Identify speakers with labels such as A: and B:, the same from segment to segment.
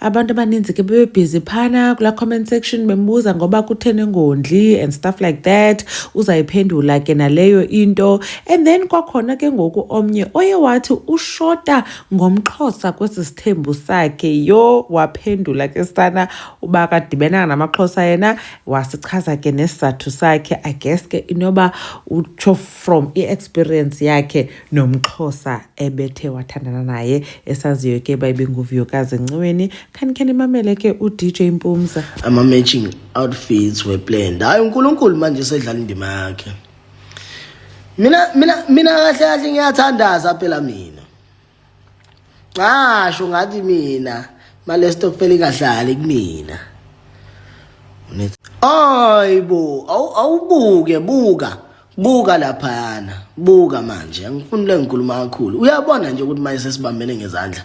A: abantu abaninzi ke bebebhizi phana kula comment section bembuza ngoba kutheni ngondli and stuff like that uzayiphendula ke naleyo into and then kwakhona ke ngoku omnye oye wathi ushota ngomxhosa kwesi sithembu sakhe yo waphendula ke sana uba kadibenanga namaxhosa yena wasichaza ke nesizathu sakhe i guess ke inoba utsho from i-experience yakhe nomxhosa ebethe wathandana naye esaziyo ke uba ibinguvuyokazi enciweni khanikhe nimamele ke udj mpumza ama-matching
B: outfits were planned hhayi unkulunkulu manje sedlala indima yakhe mina mina mina kahle kahle ngiyathandaza phela mina ngasho ngathi mina male stokfela ingadlali kumina ayibo awubuke buka buka laphayana buka manje angifuni le ngikhuluma kakhulu uyabona nje ukuthi manje sesibambene ngezandla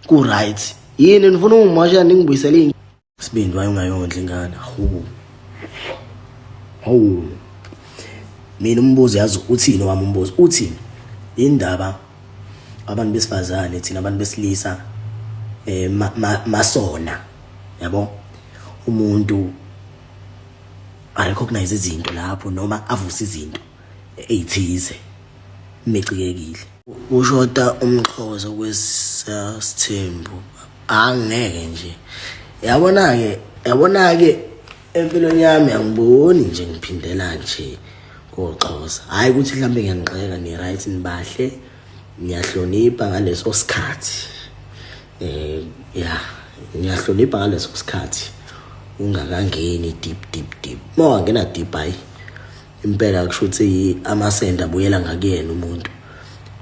B: ku right yini nifuna ungimosha ningibuyisele Sibindi waye ungayondla ingane. Hawu. Hawu. Mina umbuzo yazi uthini wami umbuzo uthini? Indaba abantu besifazane thina abantu besilisa eh masona. Yabo? Umuntu I recognize izinto lapho noma avuse izinto eyithize mecikekile Ushoda umxhosa kwesasithembu angeke nje yabona-ke yabona-ke empilweni yami angiboni nje ngiphindela nje koxhosa hhayi ukuthi mhlawumbe ngiyanixeka ni-right nibahle ngiyahlonipha ngaleso sikhathi um ya ngiyahlonipha ngaleso sikhathi ungakangeni deep deep deep uma wangena deep hhayi impela kusho ukuthi amasende abuyela ngakuyena umuntu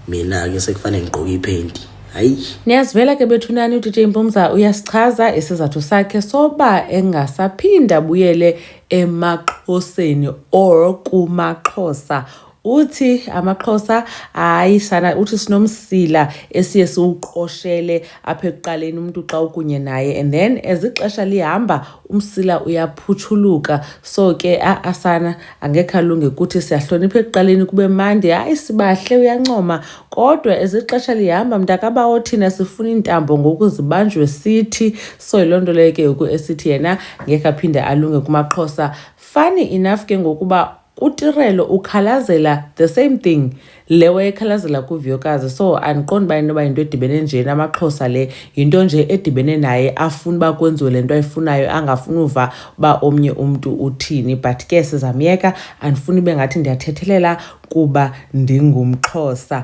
B: mina-ke sekufanele ngigqoke iphenti hayi niyazivela ke
A: bethunani udj mpumza uyasichaza isizathu sakhe soba engasaphinda abuyele emaxhoseni or kumaxhosa uthi amaxhosa hayi sana uthi sinomsila esiye siwuqoshele apha ekuqaleni umuntu xa ukunye naye and then as ixesha lihamba umsila uyaphutshuluka so ke asana angekhe alunge kuthi siyahlonipha ekuqaleni kube mandi hayi sibahle uyancoma kodwa ezixesha lihamba mntakabawo thina sifuna iintambo ngoku zibanjwe sithi so yiloo nto leyo ke ngoku esithi yena ngekhe aphinde alunge kumaxhosa fani enough ke ngokuba kutirelo ukhalazela the same thing le wayekhalazela kuviyokazi so andiqondi uba inoba yinto edibene nje namaxhosa le yinto nje edibene naye afuna uba kwenziwe le nto ayifunayo angafuni uva uba omnye umntu uthini but ke sizamyeka andifuni ibe ngathi ndiyathethelela kuba ndingumxhosa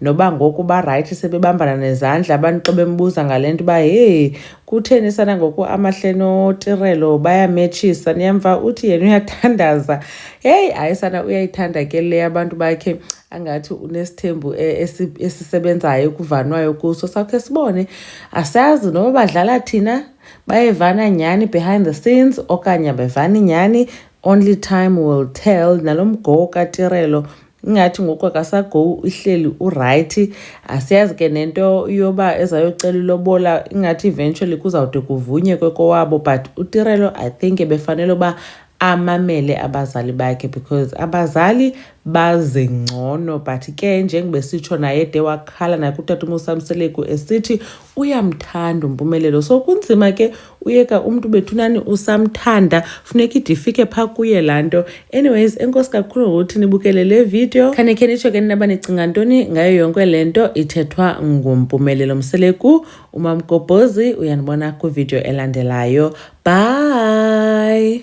A: noba ngoku barayithi sebebambana nezandla abantu xa bembuza ngale nto uba heyi kutheni sana ngoku amahle notirelo bayametshisa niyamva uthi yena uyathandaza heyi hayi sana uyayithanda ke le abantu bakhe angathi unesithembu e, esisebenzayo kuvanwayo kuso sakhe sibone asazi noba badlala thina bayevana nyhani behind the scenes okanye abevani nyhani only time will tell nalo mgowo katirelo ingathi ngoku akasagowu uhleli urayithi asiyazi ke nento yoba ezayocela ilobola ingathi eventually kuzawude kuvunyekwe kowabo but utirelo i think ebefanele uba amamele abazali bakhe because abazali baze ngcono but ke njengoba sitsho naye de wakhala nakutata umusamseleku esithi uyamthanda umpumelelo so kunzima ke uyeka umntu bethunani usamthanda funeka ide ifike phaa kuye laa nto anyways enkosi kakhulu ngokuthi nibukele le video khane khe nitsho ke ninaba nicinga ntoni ngayo yonke le nto ithethwa ngumpumelelo mseleku umamgobhozi uyanibona kwividiyo elandelayo bye